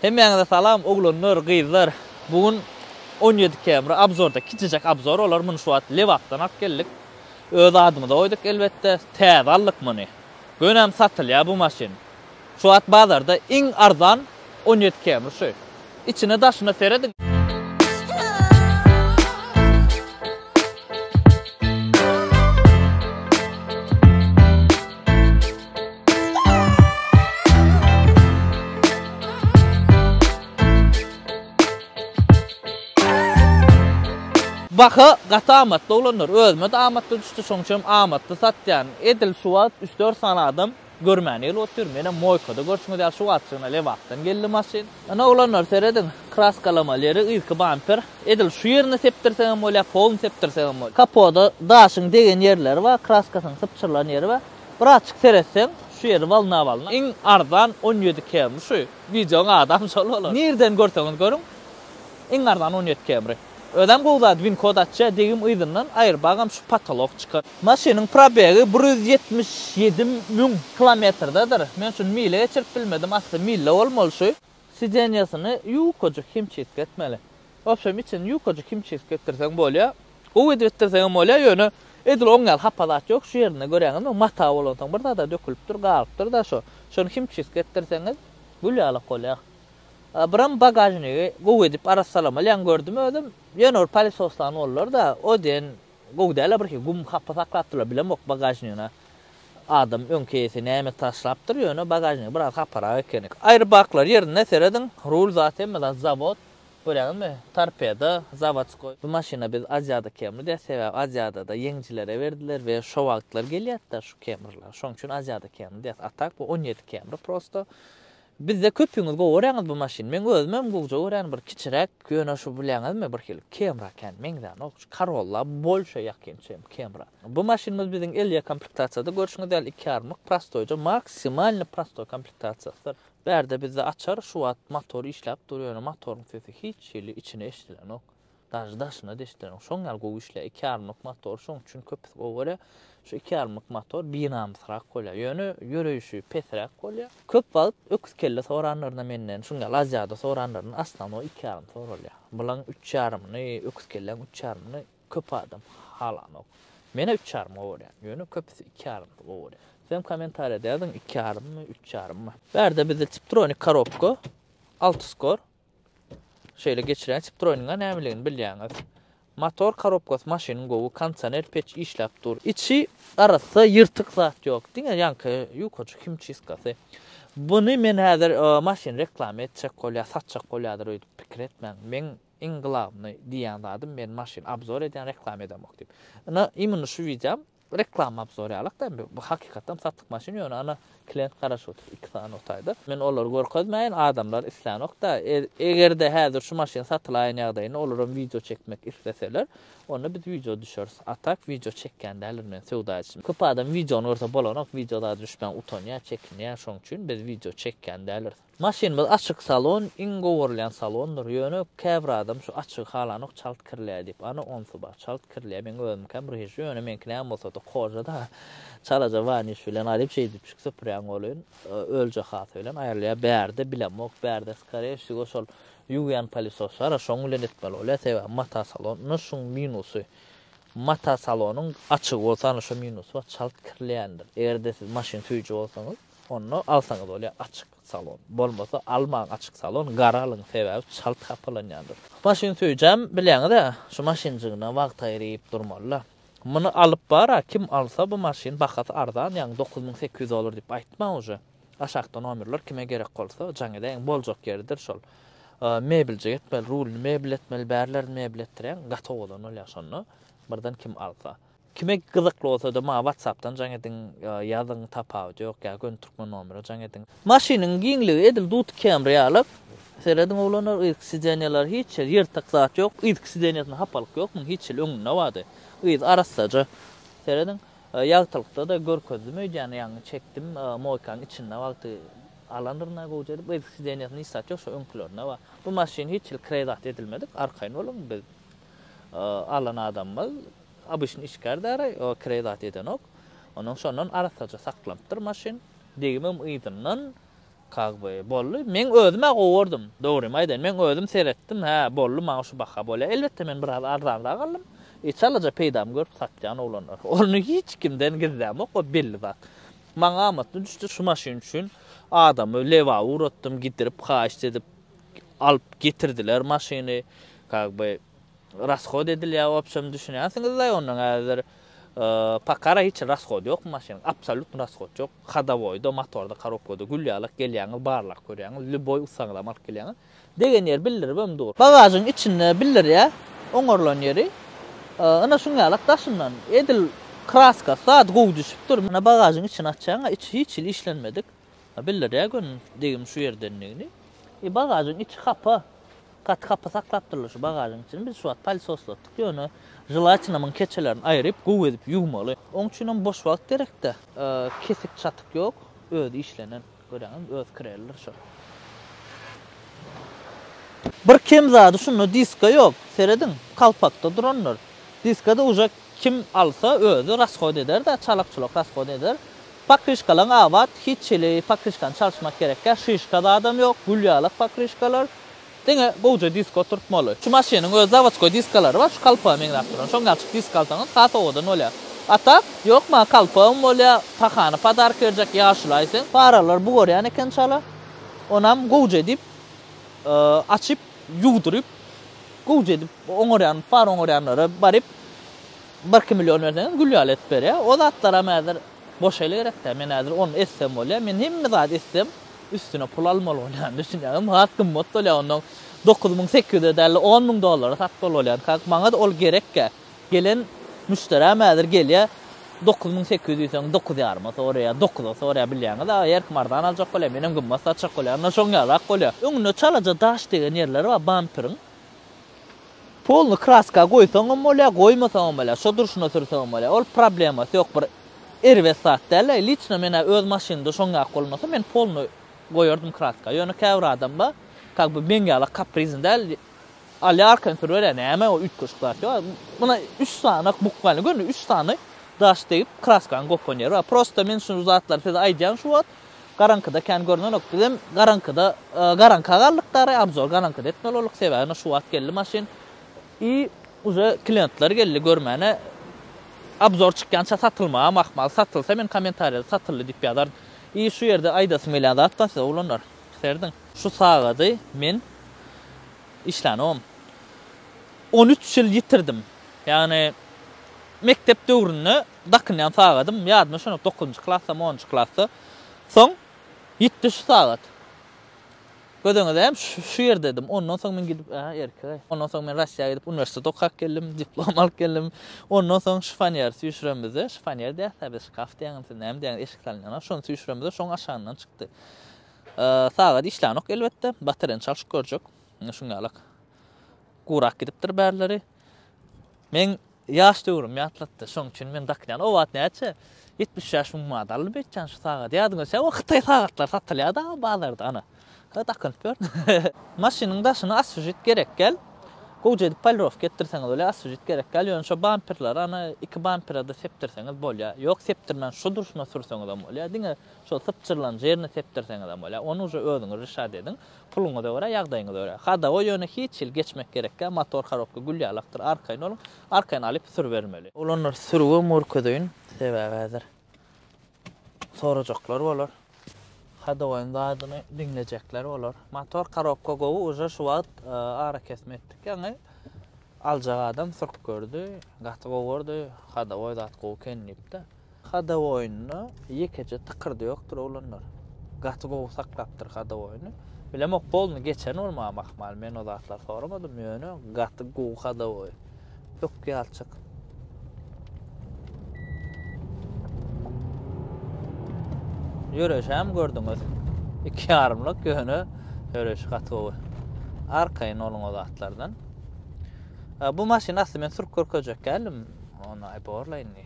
Hemmäňize salam oglanlar gyzlar bu gün on ýedi km abzorda kiçijek abzor olar muny şu wagt lebapdan alyp geldik öz adymyza goýduk elbetde täze aldyk muny gönäm satylýar bu maşyn şu wagt bazarda iň arzan on ýedi km şu içine daşyna serediň. Baha gaty amatly oglanlar özüme-de amatly düşdi şoňçem amatly satýan. Edil şu wagt üç dört sany adam görmän gelip otyr. Menem moýkada görşüňiz ýaly şu wagtjygyna Lebapdan geldi maşyn. Ine oglanlar serediň kraskalama leri yzky bamper. Edil şu ýerini sepdirseňem bolýar, polny sepdirseňem bolýar. Kapoda daşyň degen ýerleri bar, kraskasyň sypjyrylan ýeri bar. Birazçyk seretseň şu ýeri walna walna iň arzan on ýedi kemri şu wideoň adam şol bolar nirden görseňiz görüň iň arzan on ýedi kemri özem gowy zat win kod açýa degim yzyndan aýyrbagam şu patolok çyka. Maşynyň probegi bir ýüz ýetmiş ýedi müň kilometrdedir men şuny mile geçirip bilmedim asly mille bolmaly şu. Sidenýasyny ýukajyk himçistka etmeli. Wobşem içini ýukajyk himçistka etdirseň bolýar. Gowy edip etdirseň hem bolýar, ýöne edil oň ýaly hapa zat ýok. Şu ýerinde göräňizmi, mata bolansoň bir zada dökülip dur, galypdyr-da şo. Şony himçistka etdirseňiz gül ýalak bolýar. Birem bagažnigi gowy edip arassalamaly ýaňy gördüm özüm. Ýöne bir pälesoslan bollar-da, o diýen Gowy dälä birki gum hapa saklapdylar bilemok bagažnigine adam öňki eýesi näme taşlapdyr ýöne bagažnigi biraz haparak ekeni. Aýry baklar ýerinde serediň rul zat hemme zat zawod görýäňizmi torpedo zawodskoý bu maşyna biz aziýada kemride sebäbi aziýadada ýeňjilere berdiler we şo wagtlar gelýärtda şu kemrler şoň üçin aziýada kemri diýýäs a tak bu on ýedi kemri prosto Bizde köpüňiz gowy göräňiz bu maşyny. Meň özümem gowja göränin bir kiçiräk ýöne şu bileňizmi bir hili Camry kän meňzänok şu Corolla bolşa ýakyn çem Camry. Bu maşynymyz biziň Elia komplektasiýada görşüňiz ýaly iki ýarmyk prostoýja maksimalny prostoý komplektasiýasydyr. Bärde bizde açar şu wagt motor işläp dur ýöne motoryň sesi hiç hili içine eşidilenok. Daş daşyna deşdireň. Şoň ýaly gowy işleýär. Iki ýarymlyk motor şoň üçin köpüsi gowy bolýar. Şu iki ýarymlyk motor binamysrak bolýar. Ýöne ýöreýşi pesräk bolýar. Köp wagt öküz kelle soranlaryna menden şuň ýaly Aziada soranlaryna aslanwa iki ýarym soralýar. Bulaň üç ýarymyny, öküz kelläň üç ýarymyny köp adam halanok. Menä üç ýarym gowy bolýar. Ýöne köpüsi iki ýarym gowy bolýar. Sizem kommentariýada ýazyň iki ýarymmy, üç ýarymmy. Bärde bizde tiptronik korobka, alty skor, Şeýle geçirýän Citroeniň-a nämeligini bilýäňiz. Motor korobkasy maşynyň gowy, kondisioner peç işläp dur. Içi arassa, ýyrtyk zat ýok. Diňe ýaňky ýukajyk himçistkasy. Buny men häzir maşyny reklama etjek bolýar, satjak bolýardyr öýdüp pikir etmäň. Meň iň glawnyý diýýän zadym, men maşyn obzor edýän, reklama edemok diýip. Ynha, imенно şu wideom Reklama alyp sorýarlykda bu hakykatdan satyk maşyn ýöne ana klient garaşyp otyr iki sany otaýda. Men olary görkezmäýin adamlar islänokda egerde häzir şu maşyn satylaýan ýagdaýynda olaram wideo çekmek isleseler onda biz wideo düşeris a tak wideo çekýän däldir men söwda edişim köp adam wideony görse bolanok wideo zady düşmäň utanýa çekinýä şoň üçin biz wideo çekýän däldiris. Maşynymyz açyk salon iň gowurylýan salondyr, ýöne käbir adam şu açygy halanok çalt kirleýär diýip, ana onsy bar, çalt kirleýär, meň özümkäm ryžy, ýöne meňki näme bolsada kožada, çalaja waniş bilen alyp şeýdip şik süpürýän welin ölje hasy bilen aýrylýar, bärde bilemok, bärde skare wsigo şol ýuwýan palisos bar, şoň bilen etmeli bolýar, sebäbi mata salon, ine şuň minusy, mata salonyň açygy bolsa ana şo minusy bar, çalt kirleýändir, egerde siz maşyn süýji bolsaňyz. Onda alsaňyz bolýar açyk salon. Bolmasa almaň açyk salon, gara alyň, sebäbi çalt hapalanýandyr. Maşyn söýjäm bilýäňiz-ä, şu maşynjygyna wagt aýryp durmaly-da. Muny alyp bar-a, kim alsa bu maşyn bahasy arzan, ýagny dokuz müň sekiz ýüz dollar diýip aýtmaň uje. Aşakda nomerler kime gerek bolsa jaň edäýiň, boljak ýeridir şol. Mebeljik etmeli, rulyny mebel etmeli, bärlerini mebel etdirýäň, gatowadan bolýar şonda birden kim alsa. Kime gyzykly bolsada maňa watsapdan jaň ediň ýazyň tapawudy ýok ýa göni türkmen nomere jaň ediň. Maşynyň giňligi edil dut kemri ýaly. Serediň oglanlar yzky sideniýalar hiç ýeri ýyrtyk zat ýok yzky sideniýasynda hapalyk ýok muň hiç ýyl öňünde bardy yzy arassaja serediň ýagtylykdada görkezdim öýdýän ýaňy çekdim moýkaň içinde wagty alandyrynda gowja edip yzky sideniýasynda hiç zat ýok şo öňkülerinde bar bu maşyn hiç ýyl krezat edilmedik arkaýyn boluň biz Alan adamymyz obyçny içgär däri, o kireý zat edenok. Ondan şondan arassaja saklanypdyr maşyn. Degimem yzyndan kag by boldy. Meň özüm-ä gowurdym. Dogrymy aýdaýyn, meň özüm seretdim, hä, boldy, maňa şu baha bolýar. Elbetde, men biraz arzanrak aldym. E, çalaja peýdamy görüp satýan oglanlar. Ony hiç kimden gizlämok, o belli zat. Maňa amatly düşdi, şu maşyn üçin adamy lebaba ugratdym, gidirip, haýyşt edip. alyp getirdiler maşyny kag by rashod edilýär wobşem düşünýärsiňizlaý ondan häzir pakara hiç rashod ýok maşynyň absolýutny rashod ýok hodowoýda motorda korobkada gül ýalak gelýäňiz barlag görýäňiz lýuboý ussaňyzam alyp gelýäňiz degen ýeri bildiribem dur bagažyň içinde bildirýär oňarylan ýeri ynha şuň ýalak daşyndan edil kraskasy zady gowy düşüpdir ynha bagažyň içini açýaňa içi hiç hili işlenmedik Bildi-de gün degim şu ýerdendigini. E, bagažyň içi hapa. Gaty hapa saklapdyrlar şu bagažyň içini. Biz şu wagt pälsoslatdyk. Ýöne želatinamyň keçelerini aýryp, gowy edip ýuwmaly. Oň üçinem boş wagt gerek-dä. Kesik-çatyk ýok. Özi işlenen. Görýäňizmi, öz kirelidir şo. Bir kem zady şunda diska ýok. Serediň, kalpakda durandyr. Diska-da uje Kim alsa özi rasshod ederdä çalak çulak rasshod eder pakryşkalaň abat hiç hili pakryşkany çalyşmak gerekgä şyşka zadam ýok gül ýalak pakryşkalar diňe gowja disk oturtmaly şu maşynyň özi zavodskoý diskalary bar şu kalpaga meňzäp duran şoň ýaly disk alsaňyz has owadan bolýa a tak ýok maňa kalpagym bolýa pahany padark berjek ýaşulaý sen. Paralar bugarýan eken çala onam gowja edip açyp. ýuwduryp, gowja edip oňarýan bar oňarýanlara baryp birki million berseňiz gül ýaly edip berýär. O zatlaram häzir boşaýly gerek däl. Men häzir ony etsem bolýar. Men hemme zady etsem üstüne pul almaly bolýan düşünýäňizmi? Has gymmat bolýar ondan dokuz müň sekiz ýüze däl-de on müň dollara satmaly bolýan. Kak maňa-da ol gerekkä. Gelen müşderäm häzir gelýär, dokuz müň sekiz ýüz diýseň, dokuz ýaryma soraýar, dokuza soraýar, bilýäňiz, aga, erkim arzan aljak bolýar, menem gymmat satjak bolýaryn, ine, şoň ýalyrak bolýar. Öňünde çalaja daş degen ýerleri bar bamperiň. Polny kraska goýsaň hem bolýar, goýmasaň hem bolýar, şo durşuna sürseň hem bolýar. Ol problemasy ýok, bir erbet zat däl. Liçno men-ä öz maşynymda şoň ýaly bolmasa, men polny goýardym kraska. Ýöne käbir adam bar, kak bu meň ýaly kaprizni däl, Alýarkan sürüberýär näme o üýtgeşik zat ýok. Muna üç sany bukmalny görün üç sany daş degip kraskany gopan ýeri bar. Prosta men şu zatlary size aýdýan şu wagt garaňkyda kän görnenok. Bizem garaňkyda garaňka galdyk dary abzor garaňkyda etmeli bolduk sebäbi şu wagt geldi maşyn i uje klientler geldi görmäne abzor çykýança satylmagam ahmal satylsa men kommentariýada satyldy diýip ýazaryn. I şu ýerde aýdasym gelýän zat bar size oglanlar. Piserdiň. Şu sagady men işlänogam. On üç ýyl ýitirdim. Ýagny mekdep döwründe dakynýan sagadym, ýadyma şonok dokuzynjy klasdamy, onunjy klasda. Soň ýitdi şu sagat. Göz öňüde hem şu ýerdedim. Ondan soň men gidip, a, erkek-ä. Ondan soň men Russiýa gidip uniwersitet okap geldim, diplom alyp geldim. Ondan soň şifonýer süýşürenimizde, şifonýer diýäs-ä biz, şkaf diýäňizmi, siz näme diýäňiz, eşik salynýan-a, şony süýşürenimizde şoň aşagyndan çykdy. Sagat işlänok elbetde. Baterýany çalşyp görjek. Indi şuň ýalak. Gurak gidipdir bärleri. Men ýaş döwrüm ýatlatdy. Şoň üçin men dakýan. O wagt näçe? 70 ýaş müň manat aldy beýtjan şu sagat. Ýadyňa düşse, o hytaý sagatlary satylýardy a bazarda ana. Şo dakynyp ýörün. Maşynyň daşyna asfžit gerek gel. Gowja edip polirowka etdirseňiz bolýar. Asfžit gerek gel. Ýöne şo bamperleri ana iki bampere-de sepdirseňiz bolýar. Ýok, sepdirmän şu durşuna sürseňizem bolýar. Diňe Şol sypjyrlan jerini sepdirseňizem bolýar. Ony uje özüňiz rişat ediň. Puluňyza görä, ýagdaýyňyza görä. Hadowo ýöne hiç hili geçmek gerekkä, motor harobka gül ýaly akdyr. Arkaýyn boluň. Arkaýyn alyp sürübermeli. Olanlary sürübem görkezeýin. Sebäbi häzir sorajaklar bolar. Hadowoýyň zadyny diňlejekler bolar. Motor harobka gowy uje şu wagt arakesme etdik ýaňy. Aljak adam sürüp gördi. Gaty gowy gördi. Hadowoý zat gowy eken diýipdi. Hada oýnuna ýekeje tykyrdy ýokdur oglanlar. Gaty gowy saklapdyr hada oýny. Bilemok golny geçen ol maňa mahmal men o zatlar soramadym ýöne gaty gowy hada oýun. Ökýalçyk. Ýöreşäm gördüňiz. Iki ýarymlyk ýöne ýöreşi gaty gowy. Arkaýyn oluň o zatlardan. Bu maşyny asly men sürüp görkezjek däldim. Ony aýborla indi.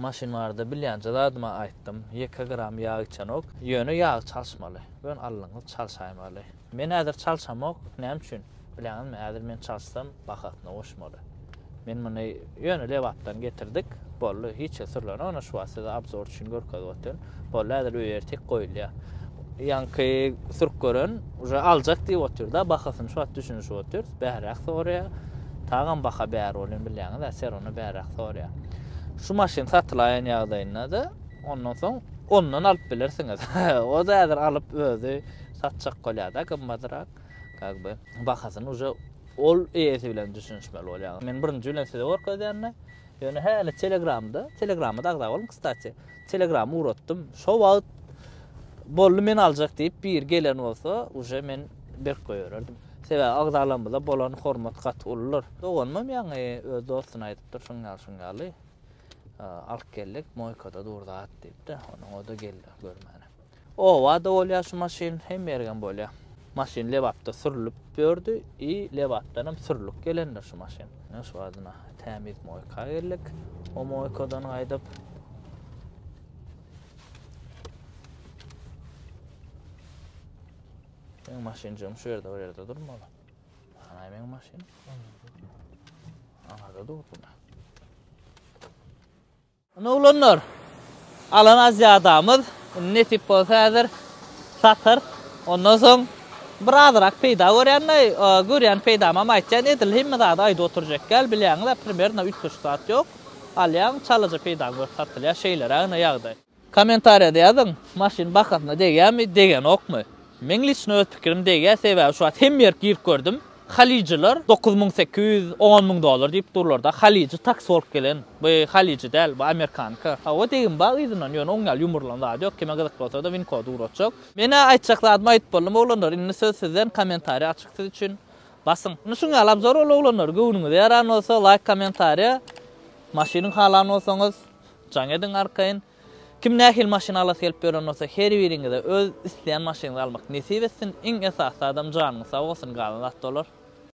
Maşyn barada bilýänçä zadyma aýtdym. Ýeke gram ýag içenok. Ýöne ýag çalyşmaly. Bön allyňyz çalyşaýmaly. Men häzir çalyşamok. Näme üçin? Bilýäňizmi, häzir men çalyşsam, bahasyna goşmaly. Men muny ýöne Lebapdan getirdik. Boldy, hiç zat sürlenok. Ine şu wagt size obzor üçin görkezip otyryn. Boldy häzir öý ertek goýulýar. Ýaňky türk gören uje aljak diýip otyrda bahasyny şu wagt düşünişip otyrys bähräk soraýar. Tagam baha bär bolýan bilýäňiz-ä ser ony bähräk soraýar. Şu maşyn satylaýan ýagdaýynda-da ondan soň ondan alyp bilersiňiz. O-da häzir alyp özi satjak bolýar-da gymmadyrak как бы bahasyny uje ol eýesi bilen düşünişmeli bolýar. Men birinji bilen size görkezýän-de ýöne häli telegramda, telegramada agza boluň kstati. Telegram ugratdym. Şo wagt boldy men aljak diýip biri gelen bolsa, uje men berk goýbererdim. Sebäbi agzalarymyza bolan hormat gaty uludyr. Doganymam ýaňy öz dostuna aýdypdyr şuň ýaly şuň ýaly. Alyp geldik, moýkada dur zat diýipdi. Onuň o-da geldi görmäne. Obada bolýar şu maşyn, hemme ýerem bolýar. Maşyn Lebapda sürlüp ýördi i Lebapdanam sürlüp gelendir şu maşyn. Ine şu badyna tämiz moýka geldik. O moýkadan gaýdyp Meň maşynjygym şu ýerde bir ýerde durmaly. Hanaý meň maşyn? Aňarda durdy. Ine oglanlar, alan azjadamyz, indi nesip bolsa häzir satarys. Ondan soň bir azyrak peýda görýän-de, görýän peýdamam aýtýan, edil hemme zady aýdyp oturjak däl, bilýäňiz-ä, primerno üç tuş zat ýok. Alýaň, çalaja peýdaň görüp satylýar, şeýleräk ine ýagdaý. Kommentariýada ýazyň, maşyn bahasyna degýärmi, degenokmy? Meň liçno öz pikirim degýär, sebäbi şu wagt hemme ýerik girip gördüm, Halyjylar dokuz müň sekiz ýüz, on müň dollar diýip durlarda, halyjy taksi bolup gelen, bu halyjy däl, bu amerikanka. Hawa, degim bar yzyndan, ýöne oň ýaly ýumrulan zady ýok, kime gyzykly bolsada win kody ugratjak. Men-ä aýtjak zadymy aýdyp boldum, oglanlar, indi söz sizden, kommentariýa açyk siz üçin, basyň. Indi şuň ýaly obzor ol oglanlar, göwnüňize ýaran bolsa, laýk, kommentariýa, maşyny halan bolsaňyz, jaň ediň arkaýyn. Kim nähili maşyn alasy gelip ýören bolsa her biriňize öz isleýän maşynyňyzy almak nesip etsin, iň esasy zadam janyňyz sag bolsun galan zat dolar.